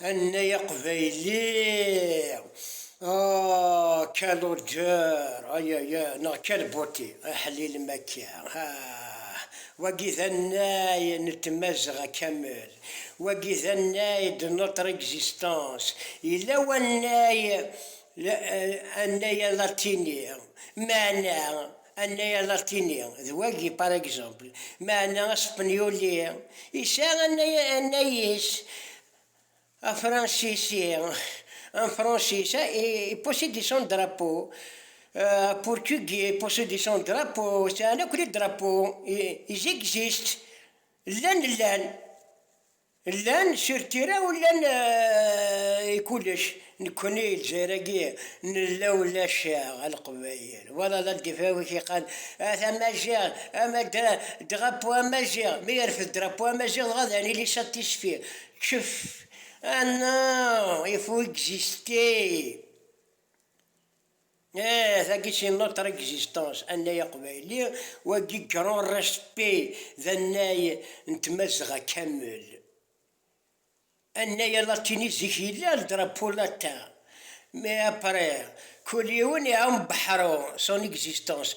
Annay aqbayli! Ah, quel odeur! Ay ay ay, neɣ quelle beauté! Aḥlil makka! Ah! Wagi d annay n Tmazɣa kamel! Wagi d annay de notre existence! Yella wannay, annay alatini, meɛna Anay alatini d wagi, par exemple, meɛna aspenyuli yesɛa anay anay-is, afransisi, en français, il possède son drapeau, aportugais possède son drapeau, sɛan akk les drapeaux, ils existent, llan llan. Llan sur tira u llan i kullec, nekkni Lezzayer-agi nella ulac-aɣ a Leqbayel, wala la d-ifawek iqan at Amaziɣ, ama drapeau amaziɣ, mi yerfed drapeau amaziɣ dɣa d anili satisfait, ccef, ah non, il faut exister. Tagi si notre existence, annay aqbayli, wagi grand respect d annay n tmazɣa kamel. Annay alatini zik yella, le drapeau latin, mais après, kul yiwen iɛum beḥru, son existence,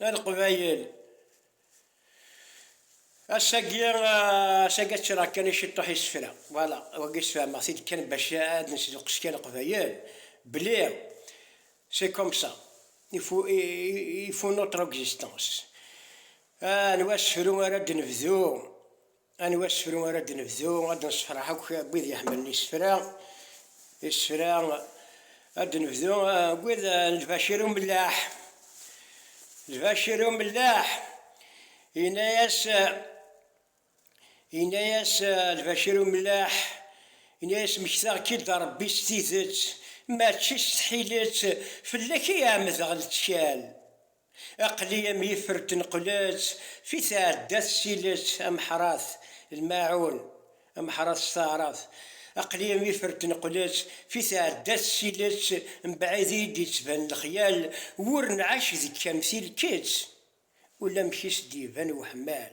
A leqbayel! Ass-agi, ass-agi ad ččreɣ kan i ciṭuḥ isefra, voilà, wagi sfehmeɣ-t-id kan bac ad nesduqqes kan leqbayel, belli c'est comme ça, il faut, il faut notre existence. Anwa asefru ara d-nebdu Anwa asefru ara d-nebdu? Ad d-nessefreḥ akk n wid iḥemmlen isefra. Isefra, ad d-nebdu n wid n Lbacir Umellaḥ. Lbacir Umellaḥ, yenna-yas, yenna-yas Lbacir Umellaḥ, yenna-yas mmektaɣ-k-id a Rebbi s tidet, mačči s tḥilet, fell-ak i ɛemmdeɣ lettkal. Aqli am yifer tenqlet, fi tɛedda tessilet ameḥrat, lmaɛun, ameḥrat s taɛrabt. Aqli am yifer tenqlet, fi tɛedda tessilet mebɛid iyi d-yettban lexyal, wur nɛac deg-k am tilkett, ulamek i s-d-iban uḥemmal.